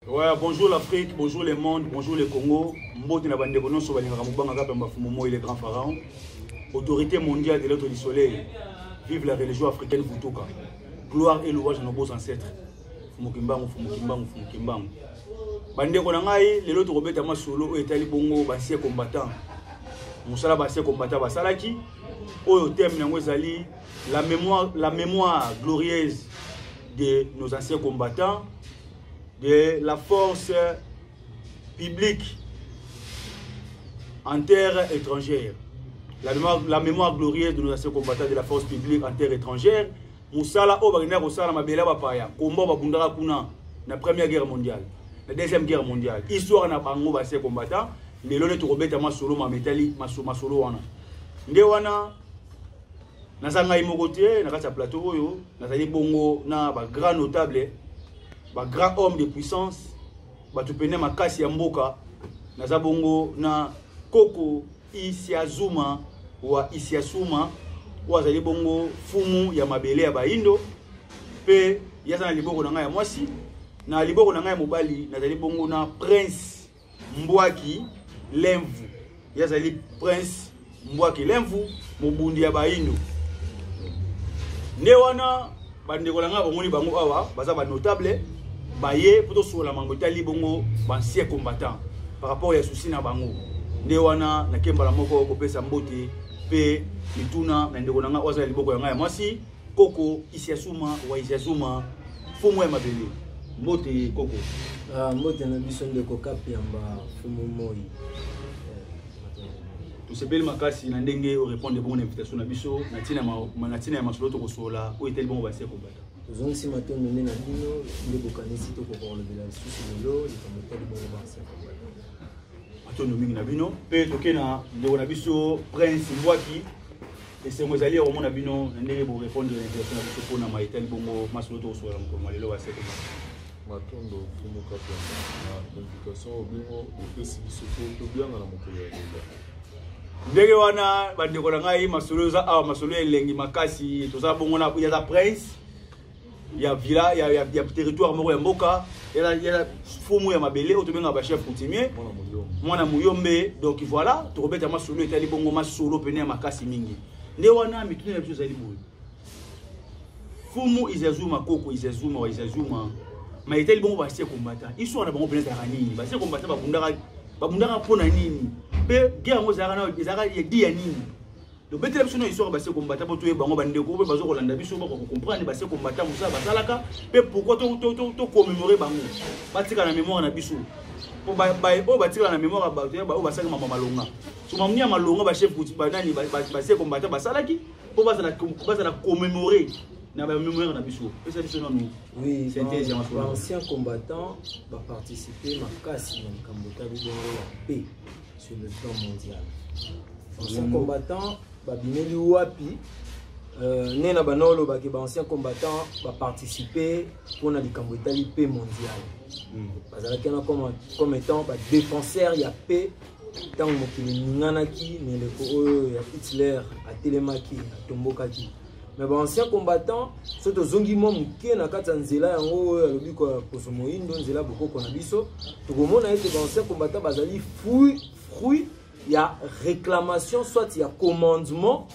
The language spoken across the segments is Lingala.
Ouais, bonjour l'Afrique, bonjour le monde, bonjour le Congo. Mbote na bandeko nyonso balingaka mobanga kaka pamba fumo moi le grand pharaon. Autorité mondiale de l'autre du soleil. Vive la religion africaine Vutuka. Gloire et louange à nos beaux ancêtres. Fumo Kimbangu, Fumo Kimbangu, Fumo Kimbangu. Bandeko na ngai lelo tokobeta masolo oyo etali bongo basie combattant. Mosala basie combattant basalaki oyo thème yango ezali la mémoire la mémoire glorieuse de nos anciens combattants de la force publique en terre étrangère. La mémoire, la mémoire glorieuse de nos anciens combattants de la force publique en terre étrangère. Moussala oyo bakendaka kosala mabele ya bapaya kombo babundaka kuna na première guerre mondiale na deuxième guerre mondiale histoire na bango basie combattant lelo nde tokobeta masolo mametali masolo wana nde wana naza ngai moko te na kati ya plateau oyo nazali bongo na ba grand notable ba grand homme de puissance bato pene makasi ya mboka naza bongo na koko isiazuma wa isiasuma oyo azali bongo fumu ya mabele ya baindo mpe ye aza na liboko na ngai ya mwasi na liboko na ngai ya mobali nazali bongo na prince Mbwaki Lemvu ye azali prince Mbwaki Lemvu mobundi ya bayindo nde wana bandeko na ngai omoni bango awa baza banotable baye mpo tosolola mango etali bongo bancien combattant par rapport ya susi na bango nde wana nakembala moko kopesa mbote mpe mituna na ndeko na ngai oyo aza ya liboko ya ngai ya mwasi koko isiasuma wa isiasuma fumu ya mabele mbote koko ah, mbote na biso ndeko kapiamba fumu moi tosepeli makasi na ndenge orépondre bongo na invitation na biso na ntina ya masolo tokosolola oyo etali bongo basi ya kobata tozongisi matondo nde na bino nde bokanisi tokoka kolobela lisusu lelo likambo etali bongo basi ya kobata matondo mingi na bino mpe toke na ndeko na biso prince mbwaki esengo ezali ya komona bino na ndenge borepondre na invitation na biso mpo na mai etali bongo masolo tokosola na mokolo mwa lelo basete matondo fumu kapenda na invitation oyo bino bopesi biso mpo tobianga na mokolo ya lelo ndenge wana bandeko na ngai masolo eza awa masolo ya elengi makasi toza bongo na yaza prince ya villa ya, ya, ya territoire moko ya mboka ya, ya fumu ya mabele oyo tobengaka bachef coutumier mwana muyombe donc voilà tokobeta masolo etali bongo masolo pene ya makasi mingi nde wana mituna na biso ezali boye fumu izazuma koko izazuma wa izazuma ma etali bongo basie kombata histoire na bango pene ezalaka nini basie kombata babundaka babundaka mpo na nini mpe guerre yango ezalaka ezalaka edi ya nini donc betela biso na histoire base kombata mpo toyeba yango bandeko mpe bazo kolanda biso bako kocomprendre base kombata mosala basalaka mpe pourkoi tocommemore bango batika na mémoire na biso mpo oyo batikala na mémoire ya bato oyo basalaki mama malonga so mamni ya malonga bachef banani base kombata basalaki mpo bazala commémore na bamémoire na biso pesa biso nanu oui baancien combattant baparticipe makasi na likambo etali bongo ya mpe sur le plan mondial ancien combattant babimeli wapi euh, nde na bana olobaki baancien combattant baparticipe mpo na likambo etali paix mondial hmm. bazalaki wana comme étant badéfenseur ya paix ntango mokili eninganaki na eleko oyo ya hitler atelemaki atombokaki me baancien combattant so tozongi mwa moke na kati ya nzela yango oyo alobi koso moindo nzela bokoko na biso tokomona ete baancien combattant bazali fruit fruit ya réclamation soit ya commandement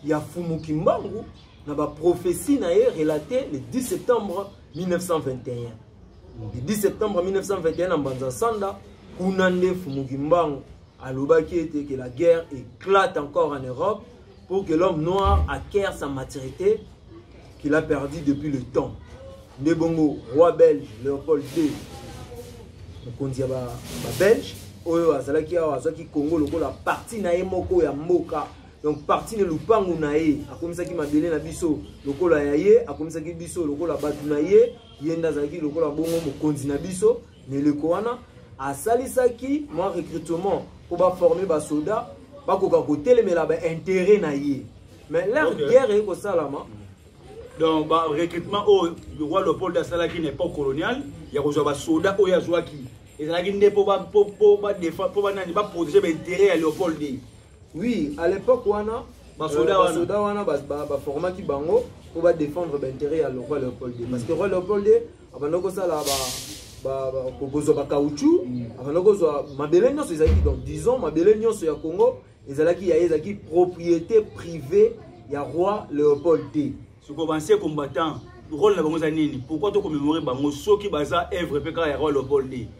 ya fumu kimbangu na baprophétie na ye relate le 10 septembre 1921 le 10 septembre 1921 na mbanza sanda kuna nde fumu kimbangu alobaki ete que la guerre éclate encore en europe pour que l'homme noir acquiert sa maturité qu'il a perdu depuis le temps nde bongo roi belge léopold ii mokonzi ya babelge oyo azalaki awa azwaki congo lokola parti na ye moko ya mboka donc parti na lupangu na ye akomisaki mabele na biso lokola ya ye akomisaki biso lokola bato na ye ye nde azalaki lokola bongo mokonzi na biso na eleko wana asalisaki mwa recrutement mpo baforme basoda bakoka kotelemela bainteret na ye mais leur okay. guerre eye kosalama donc barecrutement oyo roi leopold asalaki na époque coloniale ya kozwa basoda oyo azwaki ezalaki nde mpo banani baprotege bainteret ya leopold ye oui à l'époque wana basoda euh, wana baformaki bango mpo badefendre bainteret ya roi leopold parce que roi leopold abanda kosala kozwa bacauchu abanda kozwa mabele nyonso ezalaki donc disons mabele nyonso ya congo ezalaki ya ye ezalaki propriété privée ya roi léopold te soko banse combattant role na bango eza nini pourquoi tokomemore bango soki baza evre mpe kaka ya roi léopold te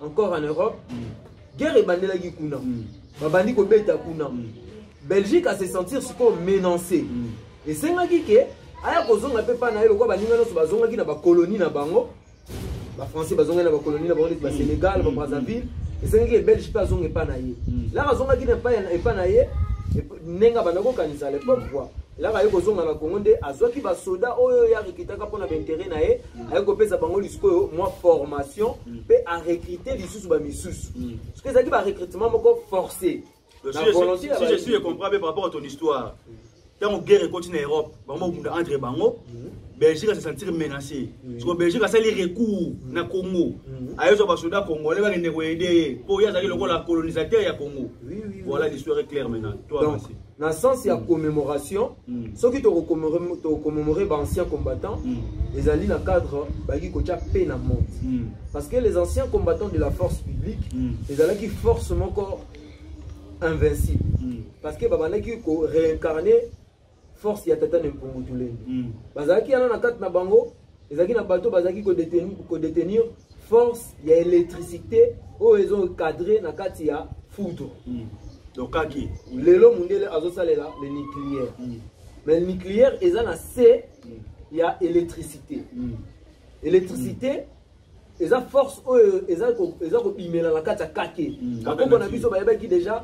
encore en europe guerre ebandelaki kuna mm. babandi kobeta kuna mm. belgique ase sentir sikoyo menance mm. esengaki ke aya kozonga mpe mpa na ye lokola baninga nyonso bazongaki na bakoloni na bango bafrançais bazongaki na bakoloni na bango neti basénégal babrazzaville esengaki ebelge mpe azonga epa na ye laka azongaki na epa na ye ndenge abanda kokanisa lepoque kua laka ye kozonga na congo nde azwaki basoda oyo ye akikitaka mpo na baintere na ye aye kopesa bango lisikoyo mwa formation mpe mm. arecrute lisusu bamisusu mm. soki ezalaki barecrutement moko forcé je suis le comprends par rapport à ton histoire ntango guerre ekoti na europe bango babunda entre bango mm. belgique ase sentir menacé soko belgique asali recours na congo ayozwa basoda congolais bakende koyede ye mpo ye azalaki lokola colonisateur ya congo voilà l'histoire est claire maintenant toi na sens ya commémoration mm. soki tokocommemore baancien combattant mm. ezali na cadre bayaki kotya mpe na monde mm. parce que les anciens combattants de la force publique ezalaki force moko invincible parce que babandaki koréincarne force ya tata ne mpungu tulenge bazalaki yana na kati na bango ezalaki na bato bazalaki kodetenir force ya électricité oyo ezo encadre na kati ya foudre mm. dokaki lelo mundele azosalela le nucléaire mm. mais le nucléaire eza na se mm. ya électricité mm. électricité mm. eza force oyo eza kobimela na kati ya kake bakoko na biso bayebaki déjà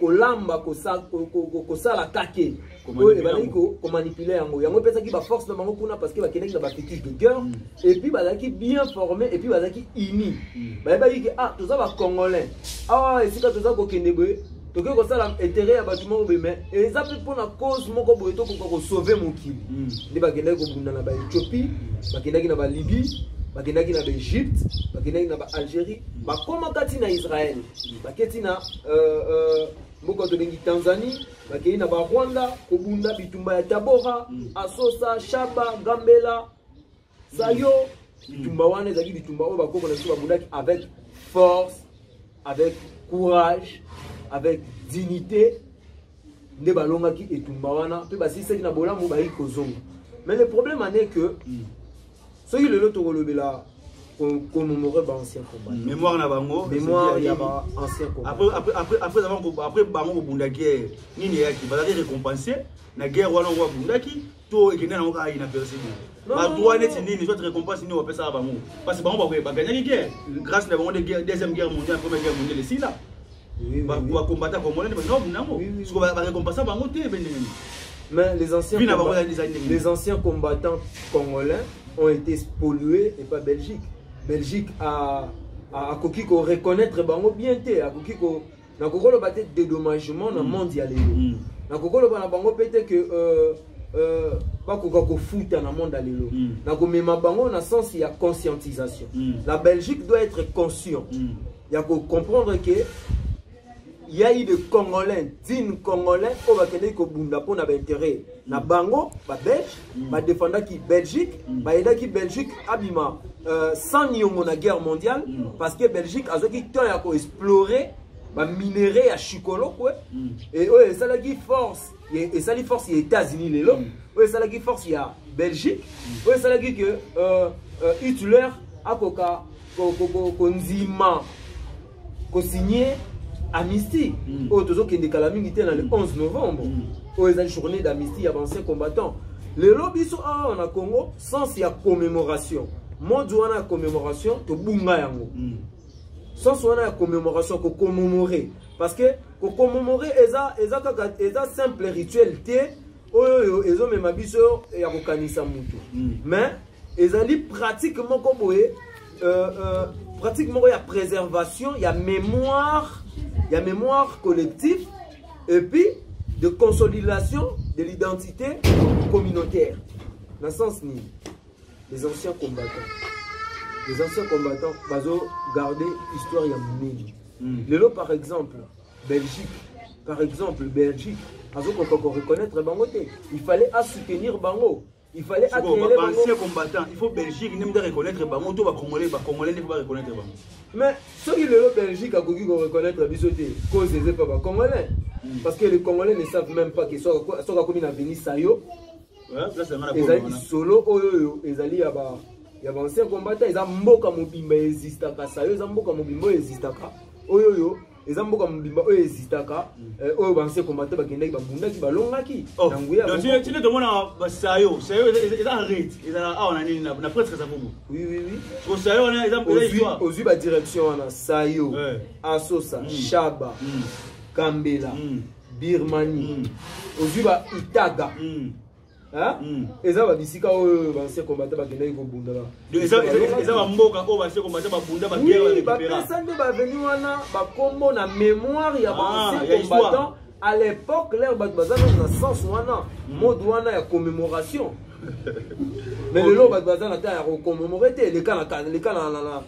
kolamba kosala kake oyo ebandaki komanipule yango yango epesaki baforce na bango kuna parce que bakendaki na bafitige de guerre mm. epuis bazalaki bien formé epuis bazalaki uni mm. bayebaki ke ah toza bacongolais awa ah, esika toza kokende boye tokoki kosala intérêt ya bato moko boye mais eza mpe mpo na cause moko boye tokoka kosauve mokili mm. nde bakendaki kobunda na baethiopie bakendaki na balibie bakendaki na baegypte bakendaki na baalgérie bakoma kati na israele baketi na euh, euh, mboka tobengi tanzanie bakei na barwanda kobunda bitumba ya tabora mm. asosa shaba gambela sayo mm. bitumba wana ezalaki bitumba oyo bakoko na biso babundaki avec force avec courage avec dignité nde balongaki etumba wana mpe basilisaki na bolamu bayei kozonga mais le problème ane que mm. soki lelo tokolobela commémorer ba ancien combat mm, mémoire na bango mémoire ya ba ancien combat après après après après avant après bango ko bunda guerre nini yaki ba la récompenser na guerre wana ko bundaki to ekende na ngoka ina percer ba droit net nini soit récompense nini opesa bango parce que bango ba ba gagnaki guerre grâce na bango de guerre deuxième guerre mondiale première guerre mondiale sila bakombata congolais nde baza babunda yango siko barekompasa bango te ebendenge mais les anciens, les anciens combattants congolais ont été spoliés et pas belgique belgique a akoki ko reconnaître bango bien te akoki ko nakoki koloba te dédommagement na mm. monde ya lelo mm. nakoki koloba na bango mpe te ke euh, euh, bakoka kofuta na monde ya lelo mm. nakomema bango na sens ya conscientisation la belgique doit être conscient ya ko comprendre que il y a eu des congolais dignes congolais oyo bakendaki kobunda mpo na baintérêt na bango babelge mm. badefendaki belgique mm. bayedaki belgique abima euh, sans niongo na guerre mondiale mm. parce que belgique azwaki temps ya koexplore baminerai ya chikolokwe e oyo esalaki force esali force ya états-unis lelo mm. oyo esalaki force ya belgique mm. oyo esalaki ke euh, euh, hitler akoka kondima kosigne amnistie mm. oyo tozokende kala mingi te na le 11 novembre oyo ezali journée d'amnistie ya bancien combattant lelo biso awa na congo sens ya commémoration mode wana ya commémoration tobunga yango sens wana ya commémoration kocommemore parce que Ko commemorer eza eza kaka eza simple rituel te oyo oyo ezomema biso ya kokanisa mutu. Mm. Mais ezali pratique moko boye euh, euh, pratique moko ya préservation ya mémoire ya mémoire collective et puis de consolidation de l'identité communautaire na sens nini les anciens combattants les anciens combattants bazo garder histoire ya munene mm. lelo par exemple belgique par exemple belgique azokoka koreconnaitre bango te il fallait asoutenir bango il fallait ancien combattant il faut belgique nde mde reconnaître bango to bacongolais bacongolais nde po bareconnaitre bango mais soki lelo belgique akoki koreconnaitre biso te cause eze pa bacongolais hmm. parce que les congolais ne savent même pas que soki akomi na venisayo ezali lisolo oyo oyo ezali ya ba ya ba ancien combattant eza mboka mobimba ezistaka sayo eza mboka mobimba oyo ezistaka oyo oyo eza mboka mobimba oyo ezitaka mm. eh, oyo banse combattant bakendaki babundaki balongaki oh. na nguyatine tomona basayo sayo eza arete ezala awa na nini na presque eza bongo sayo wana ozwi badirection wana sayo eh. asosa mm. shaba mm. kambela birmanie ozwi ba itaga eza babisika oyo banse kombata bakendaki kobunda eza bamboka oyo banse kombata babunda bapesa nde baveni wana bakombo na mémoire ya banse ah, combattant à l'époque lere bato baza nano na sens wana hmm. mode wana ya commémoration mais lelo bato baza na temps ya kocommemore te eleka na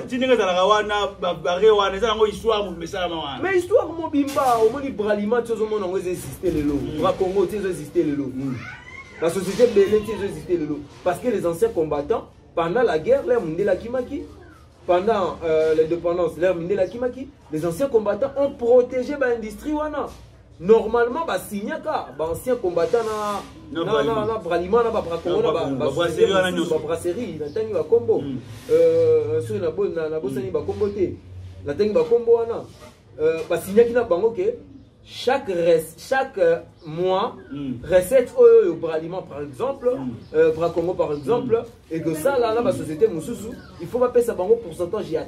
tindenge ezalaka wana babare wana eza yango histoire moto mesalama wana mais histoire mobimba omoni bralima ti ozomona yango eza existe lelo mm. bakongo ti ezo existe lelo mm. basociété bele ti ezo existe lelo parce que les anciens combattants pendant la guerre lere mondele akimaki pendant euh, l'indépendance lere mindele akimaki les anciens combattants ont protégé baindustrie wana normalement ba signaka ba ancien combattant na na na na bralima na ba brakongo na ba ba brasserie na tangi ba kombo hmm. euh soki na bo na bosani hmm. ba kombo te na tangi ba kombo wana euh ba signaki na bango ke chaque reste chaque euh, mois hmm. recette oyo yo bralima par exemple euh brakongo par exemple mm. ekosala na basociété mosusu il faut bapesa bango pourcentage ya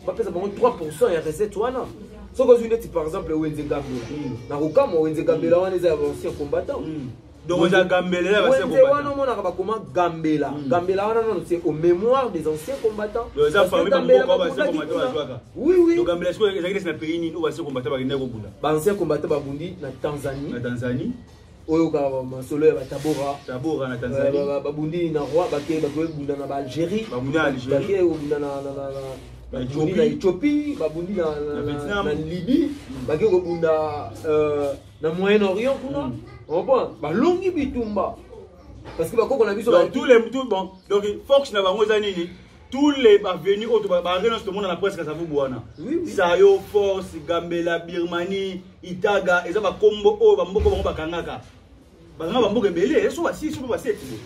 bapesa bango 3 ya recette wana soki ozwi neti par exemple wenze gambela mm. na kokamwa wenze gambela wana eza ya bancien combattant mm. wenze wana omonaka bakoma gambela mm. gambela wana nano c'est au mémoire des anciens combattants bancien combattant babundi na tanzanie oyokaka masolo ya batabora na tanzanie babundi na roi bake bakobunda na baalgérie bake kobunda na babundi na ethiopie babundi na libye mm. bake kobunda euh, na moyen orient kuna mm. opo balongi bitumba parce que bakoko na biso donc fox na bango eza nini tous les bavenu oyo baare nyonso tomona na presque savubu wana sayo force gambela birmanie itaga eza bakombo oyo bamboko bango bakangaka bakanga bamboka ebele eh, so basi so mpe baseti boye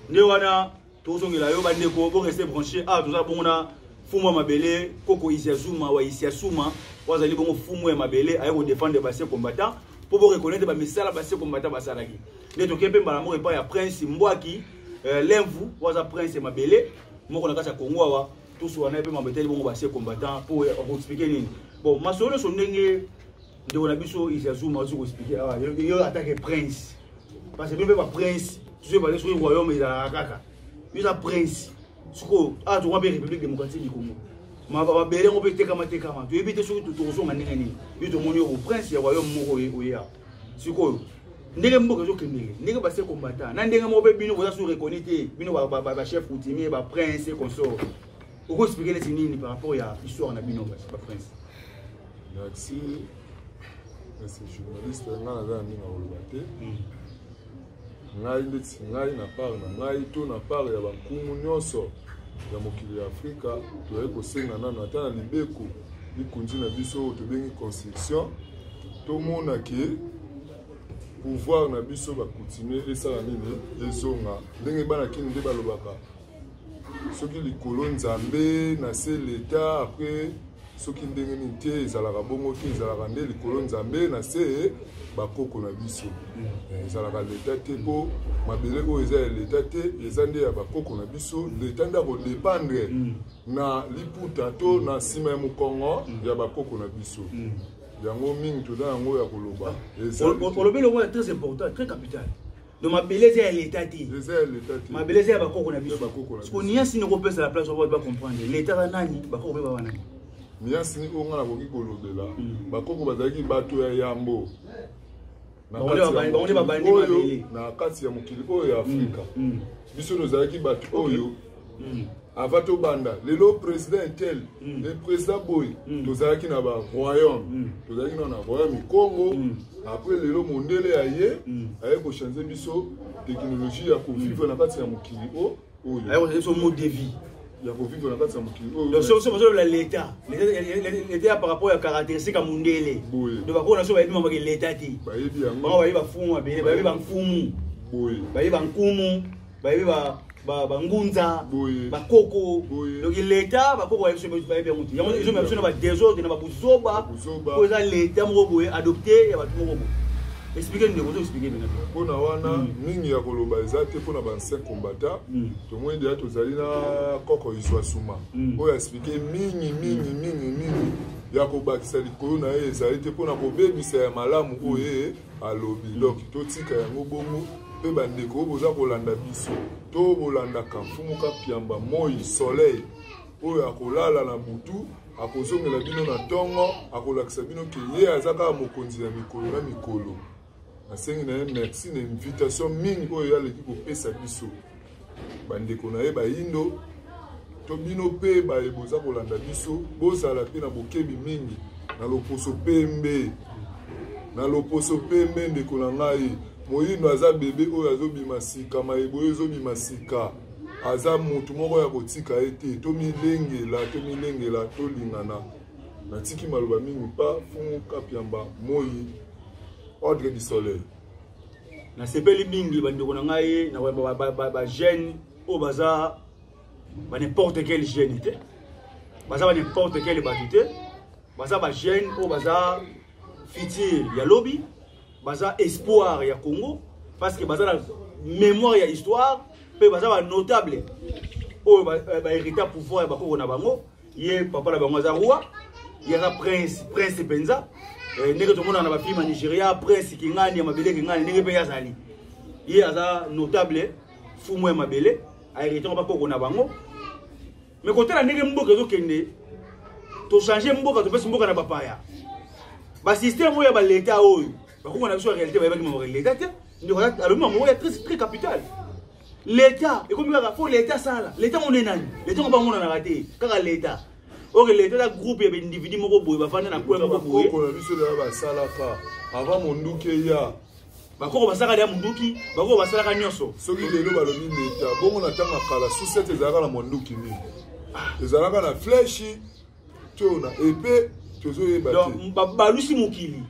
nde wana tozongela yo bandeko boreste branche awa ah, toza bongo na fumu ya mabele koko isiasuma wa isiasuma oyo azali bongo fumu ya mabele aye kodefendre base combattant mpo boreconnaitre bamisala base combattant basalaki nde tokei mpe mbala moko epai ya prince mbwaki euh, lemvu oyo aza prince ya mabele moko na kati ya kongo awa tusu wana mpe mambo etali bongo basie combattant mpo akoexplike nini bon masolo nyonso ndenge ndeko na biso isazuma azoki koexplike awa yo atake prince parce que bino mpe baprince tusu ebale soki royaume ezalaka kaka yo eza prince sikoyo awa tokwa mpe république démocratique du congo mabele yango mpe etekama tekama toyebi te soki tokozonga ndenge nini yo tomoni yo boprince ya royaume moko oye awa sikoyo ndenge mboka ezokendele ndenge base kombata na ndenge moko mpe bino boza su reconi te bino bachef coutumier baprince consort okoexplike neti nini par rapport ya histoire na bino baprince merci merci journaliste nga naza na ndenge akoloba te hmm. ngai ndeti ngai na part na ngai to na part ya bankumu nyonso ya mokili ya afrika toyai kosenga nano ata na libeko likonzi na biso oyo tobengi constitution tomona ke pouvoir na biso bakontinue esala nini ezonga ndenge bana kini nde balobaka soki likolo nzambe na se leta apres soki ndenge nini te ezalaka bongo te ezalaka nde likolo nzambe na se bakoko na biso eh, ezalaka leta te mpo mabele oyo eza ya leta te eza nde ya bakoko na biso leta nde akodependre mm. na liputa to na nsima ya mokongo mm. ya bakoko na biso mm. yango mingi toza yango ya koloba olobeli yango ya très important très capital no mabele eza ya leta te mabele eza ya bakoko na biso siko niasi nde okopesa la place obo bacomprendre leta za nani bakoko mpe baba nani niasi ni oyo ngai nakoki kolobela hmm. bakoko bazalaki bato ya yambo na kati ya mokili oyo ya hmm. afrika hmm. biso tozalaki bato oyo mm. avant tobanda lelo président etel mm. le président boye mm. tozalaki na baroyaume mm. tozalaki na na royaume ya congo mm. après lelo mondele aye mm. aye kochange biso technologie ya kovivre mm. na kati ya mokili o oyo aye kochange biso mode de vie ya kovivre na kati ya mokili oyosobola leta leta ya par rapport ya caractéristique ya mondele donc bakoo na so bayebi mamake leta te bayebi yango bayebi bafumu babele bayebi bamfumu boye bayebi bankumu bayebi bangunza bakoko donc leta bakoko bayebi biso bayebi yango te yango ezomema biso na badesordre na babuzoba po eza leta moko boye adopte ya bato moko boye explike ndeko ozo explike bena mpona wana hmm. mingi ya koloba eza te mpona bancien combata hmm. tomoni deya tozali na koko izwa suma hmm. oyo explike mingi mingi mingi mingi ya kobakisa likolo na ye ezali te mpona kobebisa ya malamu oyo ye alobi donc totika yango bongo mpe bandeko oyo boza kolanda biso to bolandaka mfumu kapiamba moi soleil oyo akolala na butu akozongela bino na ntongo akolakisa bino ke ye aza kaka mokonzi ya mikolo na mikolo nasengi na ye merci na invitation mingi oyo ye aleki kopesa biso bandeko na ye bayindo to bino mpe baye boza kolanda biso bozala mpe na bokebi mingi na loposo pembe na loposo pembe ndeko na ngai moyindo aza bebe oyo azobima sika mayeboye ezobima sika aza motu moko ya kotika ye te tomilengela tomilengela tolingana natiki maloba mingi mpa fumu kapiamba moi ordre du soleil nasepeli mingi bandeko na ngai na bajeune oyo baza ba n'importe quel jeune te baza ba n'importe quel bato te baza bajeune oyo baza futur ya lobi baza espoir ya congo parce que baza na mémoire ya histoire mpe baza ba notable oyo baherita pouvoir ya bakoko na bango ye papa na bango aza roi ye aza prince prince mpenza eh, ndenge tomonaka na bafilme ya nigeria prince kingani ya mabele kingani ndenge mpe ye azali ye aza notable fumu ya mabele aeritaka bakoko na bango me kotala ndenge mboka ezokende tochange mboka topesi mboka na bapaya basysteme oyo ya baleta oyo bakoko na biso ya réalité bayebaki mama leta te ndeko alobi mama oyo ya très capital leta ekomi kaka fo leta asala leta ngo nde nani leta ngo bangonanaka te kaka leta oke leta eza groupe ya baindividu moko boye bafanda na kwela moko boye bakoko na biso deya basalaka ava monduki eya bakoko basalaka deya monduki bakoko basalaka nyonso soki lelo balobi leta bongo na ntango ya kala susete ezalaka na monduki nini ah. ezalaka na fleshi to na epe tozoyeba te babalusi mokili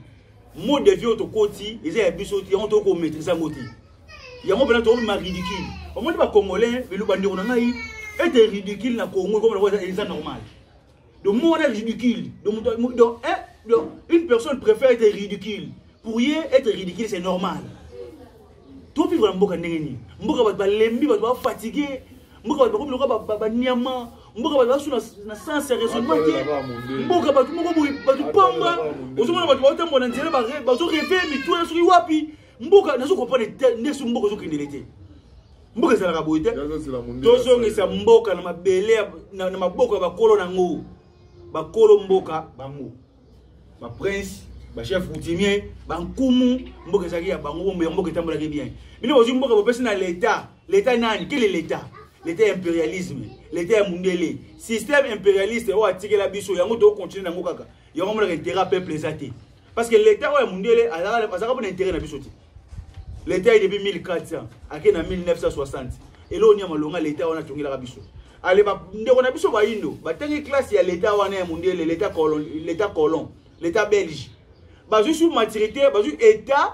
mode vie oyo tokoti eza ya biso yango tokomaitrise yango te yango mpena tokobima ridicule omoni bacongolais belo bandeko na ngai ete ridicule na congo ekomona eza normal donc mo wana ridicule donc donc eh, une personne préfère être ridicule pour ye être ridicule c'est normal topivre na mboka ndenge nini mboka bato balembi bato bafatigue mboka bato bakomi lokola baniama mboka bato basu na sens ya raisonnement te mboka bato moko boye bato pamba ozomona bato baotambola na nzela bazoreve mituna soki wapi mboka nazo comprendre te nde soki mboka ozokendele te mboka ezalaka boye te tozongisa mboka na mabele na maboko ya bakolo na yango bakolo mboka bango baprince bachef coutumier bankumu mboka ezalaki ya bango bombe ya mboka etambolaki bien bino bozwi mboka bopesi na leta leta nani kele leta leta ya imperialisme leta ya mundele système imperialiste oyo atikela biso yango tokocontinue na yango kaka yango monaka intérêt ya peuple eza te parce que l'etat oyo ya mundele azalaka mpona intérêt na biso te l'etat ye depuis 1400 ake na 1960 eloko nia malonga l'etat wana atongelaka biso ale ndeko na biso bayindo batangi classe ya l'etat wana ya mundele l'etat colon l'etat belge bazwi sur maturité bazwi etat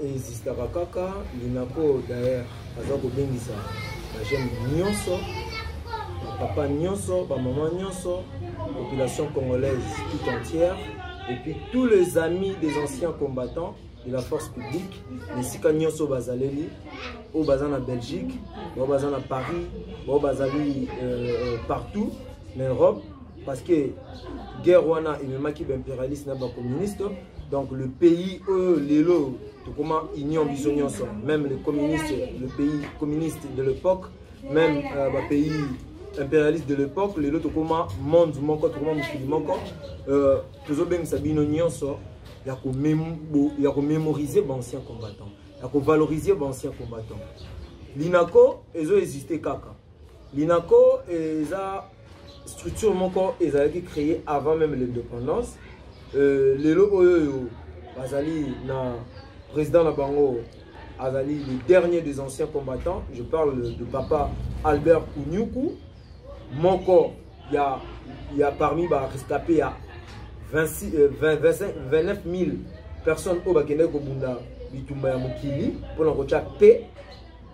Existaka kaka Linaco d'ailleurs aza kobengisa ba jeune nyonso ba papa nyonso ba maman nyonso population congolaise tout entière et puis tous les amis des anciens combattants de la force publique na esika nyonso bazaleli oyo baza na belgique bao baza na paris bao bazali euh, euh partout na europe parce que guerre wana ememaki baimpérialiste na bacommuniste donc le pays oyo lelo tokoma union biso nyonso même le communiste le pays communiste de l'époque même euh, bapays impérialiste de l'époque lelo tokoma monde moko tokoma mokili moko euh, tozobengisa bino nyonso ya komémoriser baancien combattant ya kovaloriser baancien combattant linako ezo existe kaka Linaco eza structure moko ezalaki créée avant même l'indépendance euh, lelo oyo oyo bazali na président na bango azali le dernier des anciens combattants je parle de papa albert kunyuku moko ya, ya parmi barescapé ya 26, euh, 20, 25, 29 000 personnes oyo bakendaki kobunda bitumba ya mokili mpona kotya paix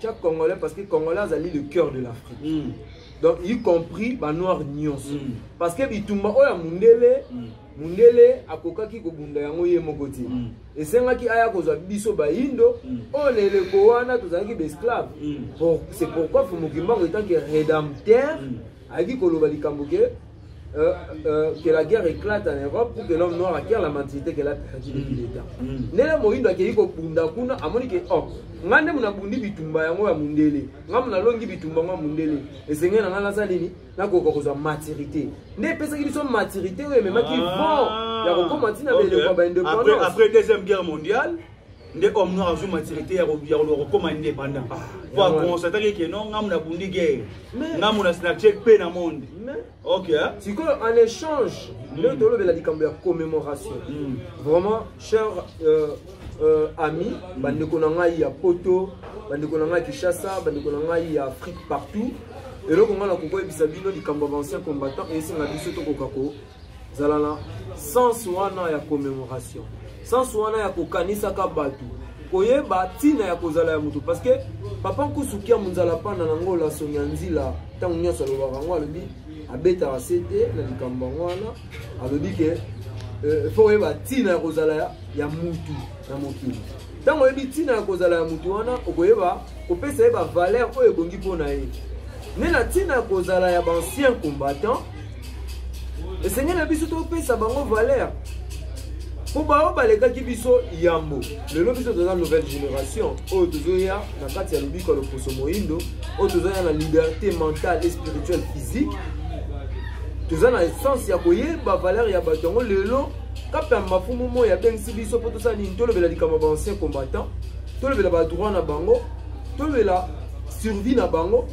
Chaque Congolais, parce que Congolais azali le cœur de l'Afrique. Mm. Donc, y compris ba noirs nyonso. Mm. Parce que bitumba oyo ya mundele, mm. mundele akokaki kobunda yango ye moko te. Mm. Esengaki aya kozwa biso bayindo, mm. oyo na eleko wana tozalaki ba esclaves. Mm. Pour, c'est pourquoi Fumukimbangu etant que rédempteur mm. ayaki koloba likambo ke Euh, euh, que la guerre éclate en Europe pour que l'homme noir acquiert la mentalité qu'elle a perdue depuis le temps. Mm. Nele Mohindo akei kobunda kuna amoni ke oh ngai nde munabundi bitumba yango ya mundele ngai munalongi bitumba yango ya mundele esengeli na ngai nasala nini nakoka kozwa maturité nde epesaki biso maturité oyo ememaki ah. vent ya kokoma ntina beleko ya baindépendance après deuxième guerre mondiale nde homme noir azwi maturité ya koluka kokoma indépendant ah, po aconstataki ke non ngamu nabundi guerre ngamu na snapchat mpe na monde ok sikoyo en échange nde hmm. tolobela likambo ya commémoration hmm. vraiment cher euh, euh, ami hmm. bandeko na ngai ya poto bandeko na ngai ya kinshasa bandeko na ngai ya afrique partout eloko ngai nakokoyebisa bino likambo ya bancien combattant eyesinga biso tokoka ko zala na sens wana ya commemoration sens wana ya kokanisaka bato koyeba ntina ya kozala ya moto parce que papa nkusukia monzala mpanda na ngola songi ya nzila ntango nyonso alobaka yango alobi abetaka se te na likambo yango wana alobi ke euh, fo oyeba ntina ya kozala ya mutu na mokili ntango oyebi ntina ya kozala ya mutu wana okoyeba kopesa ye bavaler oyo ebongi mpo na ye nde na ntina ya kozala ya baancien combattant esengeli na biso topesa bango valeur mpo baoyo balekaki biso yambo lelo biso toza nouvelle génération oyo tozoya na kati ya lobiko ya loposo moindo oyo tozoya na liberté mentale et spirituelle physique toza na essence ya koyeba valeur ya bato yango lelo kape ya mafumu moi abengisi biso mpo tosala nini tolobela likambo ya baancien combattant tolobela badroit na bango tolobela survie na bango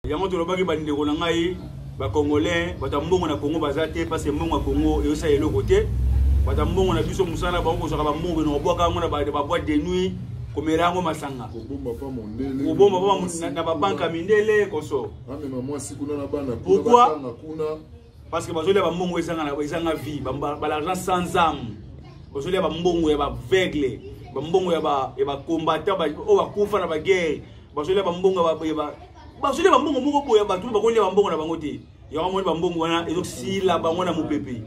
yango tolobaki bandeko na ngai ba congolais bato ya mbongo na congo baza te parce que mbongo ya congo eyosala eloko te bato ya mbongo na biso mosala bango kozwaka bambongo eno kobwaka yango na baboite de nuit komela yango masanga kobomba pa na babanke ya mindele koso pourkui parce que bazolia bambongo ezanga vie balargent sans ame bazolia bambongo ya baveugle bambongo ya bacombattant oyo bakufa na baguerre bazolia bambongo bazolia bambongo moko boya bato bakolia bambongo na bango te yango amoni bambongo wana ezosila bango na mopepe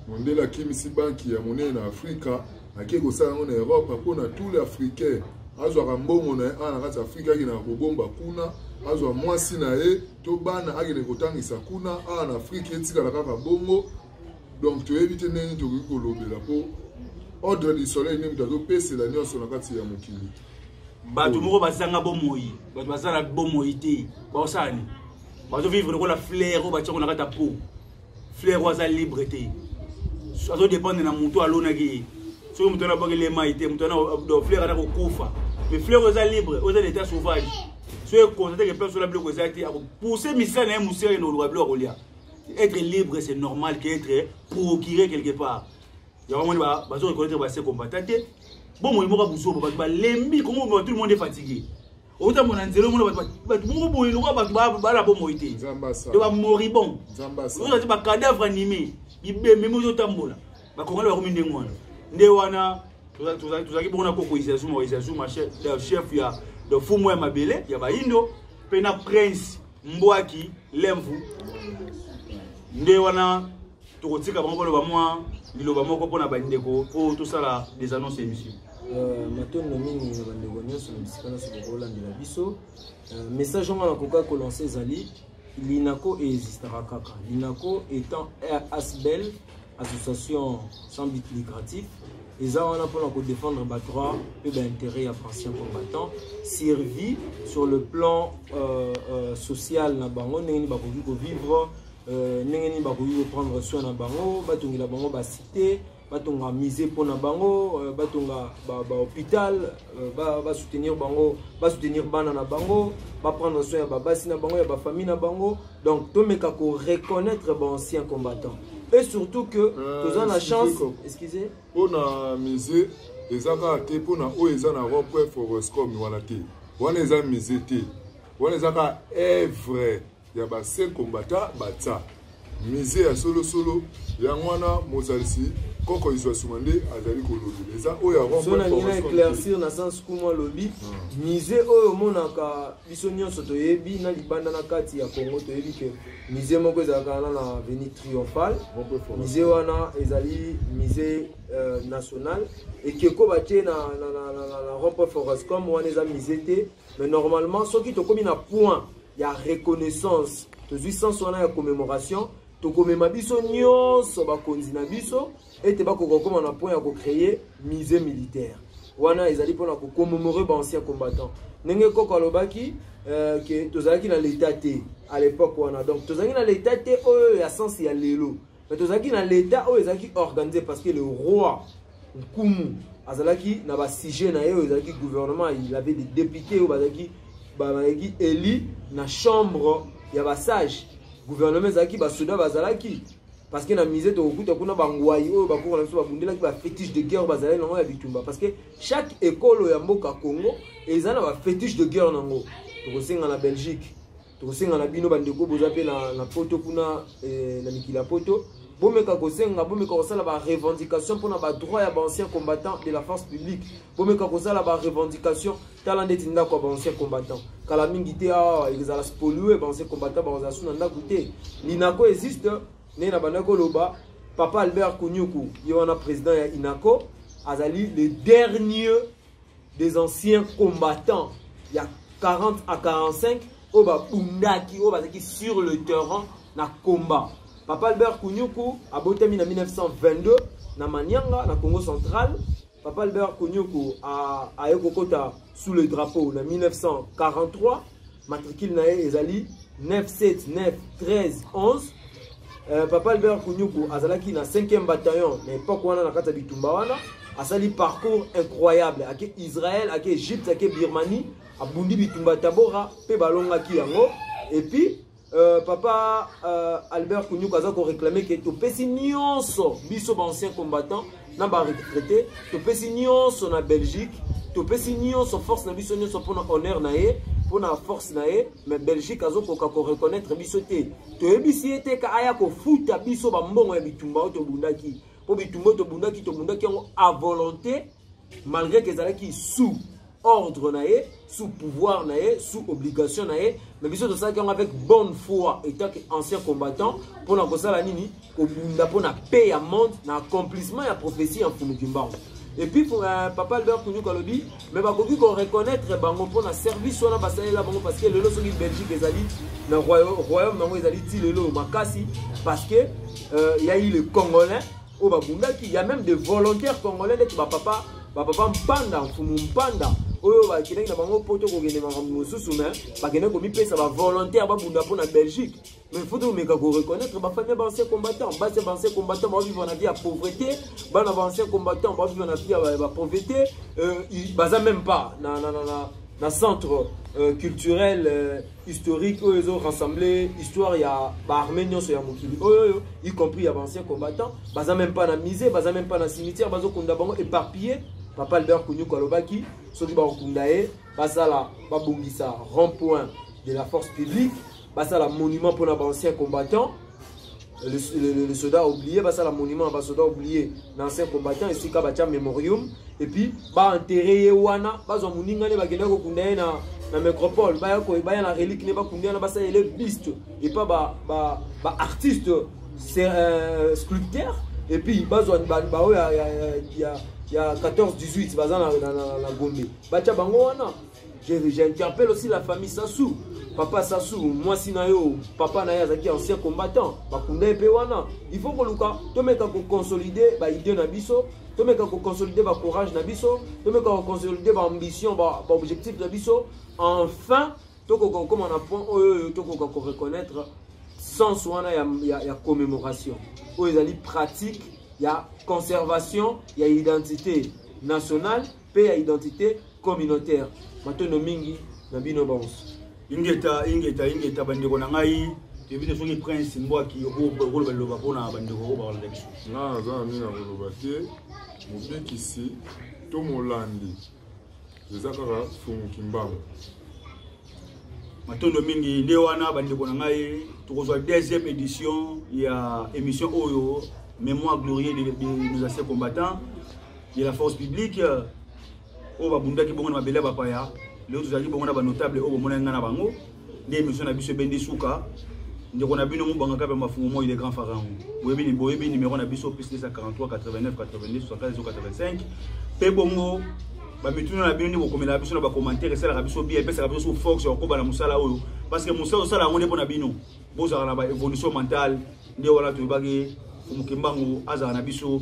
mondele akimisi banki ya monene na afrika akei kosala yango na europe mpo na tout le africain azwaka mbongo na ye awa na kati ya afrika akendaka kobomba kuna azwa mwasi na ye to bana akende kotangisa kuna awa na afrika etikala kaka bongo donc toyebi te ndenge tokoki kolobela mpo ordre du soleil nde moto azopesela nyonso na kati ya mokili bato moko bazanga bomoi bato baza na bomoi te baosala nini bazovivre lokola flaire oyo batiako na kati ya po flaire oyo aza libre te azodépendre na motu alonaki ye soki moto wana abwaki lemai te moto wana flaire ata kokufa mais flaire oyo eza libre oyo eza na état sauvage soki ekonstate ke place ola biloko eza te akopousse misala na ye mosere na oluka biloko akolia être libre c'est normal que être procuré quelque part yango moni bazo reconnaître base combattant te bomoi moko buzoba bato balembi kongo tout le monde est fatigué outa mona nzela omona bato moko boye lokola bato bala bomoi te to bamoribon oza ti bacadavre anime bibembe moko ezotambola bakongani bakomi ndenge wana nde wana tozalaki bongo na koko izazuma izazuma chef ya fumu ya mabele ya baindo mpe na prince mbwaki lemvu nde wana tokotika bango baloba mwa liloba moko mpo na bandeko mpo tosala des annonces ya émission Euh, matondo mingi na bandeko nyonso na bisika nyonso bokolandela biso euh, message yango nakoka kolanse ezali linako eexistaka kaka linako étant asbel association sans but lucratif eza wana mpona kodefendre badroit mpe baintérêt ya bancien combattant survie sur le plan euh, euh, social na bango ndenge nini bakoki kovivre euh, ndenge nini bakoki koprendre soin na bango batongela bango bacité batonga musée mpona bango euh, batonga bahôpital euh, basoutenir bango basoutenir bana na bango baprendre soin ya babasi na bango ya bafamille na bango donc tomeka ko reconnaître ba ancien combattant et surtout que euh, toza na chance excusez mpo na musée eza kaka te mpo na oyo eza na ropoe foroscom wana te wana eza musée te wana eza kaka evre ya basaint combattant batsa musée ya solosolo yango wana mozalisi koko izwa suma nde azali kolobela eza oyo ya ropoe foroscom na sens kumwa lobi hmm. musée oyo omonaka biso nyonso toyebi na libanda na kati ya congo toyebi ke musée moko ezalaka wana na avenue triomphal musée wana ezali musée euh, national ekeko batie na, na, na, na, na, na rompe forestcom wana eza musée te mais normalement soki tokomi na point ya reconnaissance tozwi sens wana ya commémoration tokomema biso nyonso bakonzi na biso ete bakoka kokoma na point ya kocreye musée militaire wana ezali mpona kocommemore baancien combattant ndenge koko alobaki euh, ke tozalaki na leta te à l'époque wana donc tozalaki na leta te oyo ya sense ya lelo mais tozalaki na leta oyo ezalaki organise parce que le roi nkumu azalaki na basujet na ye oyo ezalaki gouvernement il avait des députés oyo bazalaki bazalaki élu na chambre ya basage gouvernement ezalaki basoda bazalaki parce que na musée tokokuta kuna bangwai oyo bakoko na biso babundelaki bafetiche de guerre bazalaki nango ya bitumba parce que chaque ekolo ya mboka congo eza na bafetiche de guerre nango tokosenga na belgique tokosenga na bino bandeko boza mpe na, na poto kuna eh, na mikili ya poto bomeka kosenga bomeka kosala barevendication mpona badroit ya baancien combattant de la force publique bomeka kosala barevendication tala ndeti ndako ya baancien combattant kala mingi te awa ezala spoliwe baancien combattant bakozala su na ndako te linako existe ndenge na bandaki koloba papa albert kunyuku ye wana président ya inaco azali le dernier des anciens combattants ya 40 à 45 oyo babundaki oyo bazalaki sur le terrain na combat papa albert kunyuku abotami na 1922 na manianga na congo central Papa Albert Konyoko aye kokota sous le drapeau na 1943 matricule na ye ezali 9791311 euh, papa albert kunyuku azalaki na 5e bataillon na epoke wana na kati ya bitumba wana asali parcours incroyable ake israel ake egypte ake birmanie abundi bitumba ya tabora mpe balongaki yango epuis Euh, papa euh, Albert Kunyuka aza ko réclamer que topesi nyonso biso ba anciens combattants na ba retraités topesi nyonso na Belgique topesi nyonso force na biso nyonso mpona honneur na ye mpona force na ye mais belgique azokoka koreconnaitre biso te toyebisi ye te ka aya kofuta biso bambongo ya bitumba oyo tobundaki mpo bitumba oyo tobundaki tobundaki yango a volonté malgré ke ezalaki sous ordre na ye sous pouvoir na ye sous obligation na ye mais biso tosalaki yango avec bonne foi étant que ancien combattant mpo na kosala nini kobunda mpo na paix ya monde na accomplissement ya prophétie ya mfumu kimbangu et puis pour, euh, papa albert kunyuka alobi mais bakoki koreconnaitre bango mpo na service wana basalela bango parce que lelo soki belgique ezali na royaume yango ezali ti lelo makasi parce que euh, ya ye le congolais oyo babundaki ya meme de volontaire congolais ndeti bapapa bapapa mpanda mfumu mpanda oyo bakendaki na bango poto kokende makambo mosusu me bakendaki komipesa bavolontaire babunda mpo na belgique mais faut tomeka koreconnaitre bafami ya baancien combattant basi ya baancien combattant baovivre na vie ya pauvreté bana baancien combattant baovivre na vie ya bapauvreté euh, baza même pas na, na, na, na, na centre euh, culturel euh, historique oyo ezo rassembler histoire ya baarmée nyonso ya mokili oyo oyo y compris ya baancien combattant baza même pas na musée baza même pas na cimetière bazokunda bango éparpillé papa albert kunyuku alobaki soki bakokunda ye basala babongisa rond point de la force publique basala monument mpona baancien combattant le, le, le, le soldat oublié basala monument ba soldat oublié na ancien combattant esika batya memorium et puis baenterre ye wana bazwa moninga nde bakenda kokunda ye na, na métropole baya, baya na relique nde bakunda wana basala ele biste epa baartiste ba, ba euh, sculpteur et puis bazwa baoyo ya, ya, ya, ya 14 18 baza na, na, na, na gombe batya bango wana J'interpelle aussi la famille Sassou. Papa Sassou, moi si na yo, papa na yazaki ancien combattant, bakunda epe wana. Il faut que luka, to meka ko consolider ba idée na biso, to meka ko consolider ba courage na biso, to meka ko consolider ba ambition, ba, ba objectif na biso. Enfin, to ko ko koma na point oyo to ko ko reconnaître sens wana ya, ya, ya commémoration. Oyo ezali pratique ya conservation ya identité nationale mpe ya identite communautaire matondo mingi na bino banso ingeta ingeta ingeta bandeko na ngai toyebi te soki prince mbwaki okoloba liloba mpo na bandeko oyo bakolanda biso nga naza na mingi na koloba te mobikisi to molandi eza kaka fungu kimbangu matondo mingi nde wana bandeko na ngai tokozwa deuxième édition ya émission oyo mémoire glorieux de, de, de nos anciens combattants de la force publique euh, oyo babundaki bongo na mabele ya bapaya lelo tozalaki bongo na banotable oyo bomonaki ngai na bango nde émission na biso ebendi suka ndeko na bino mobanga kape mafungo moi le grand pharaon boyebi boyebi numéro na biso plus 243 89 82 75 85 mpe bongo bamituna na bino nde bokomelaka biso na bacommentaire esalaka biso bia epesaka biso su force ya kokoba na mosala oyo parce que mosala osala yango nde mpo na bino bozalaka na baévolution mentale nde wana toyebaki mokembango azala na biso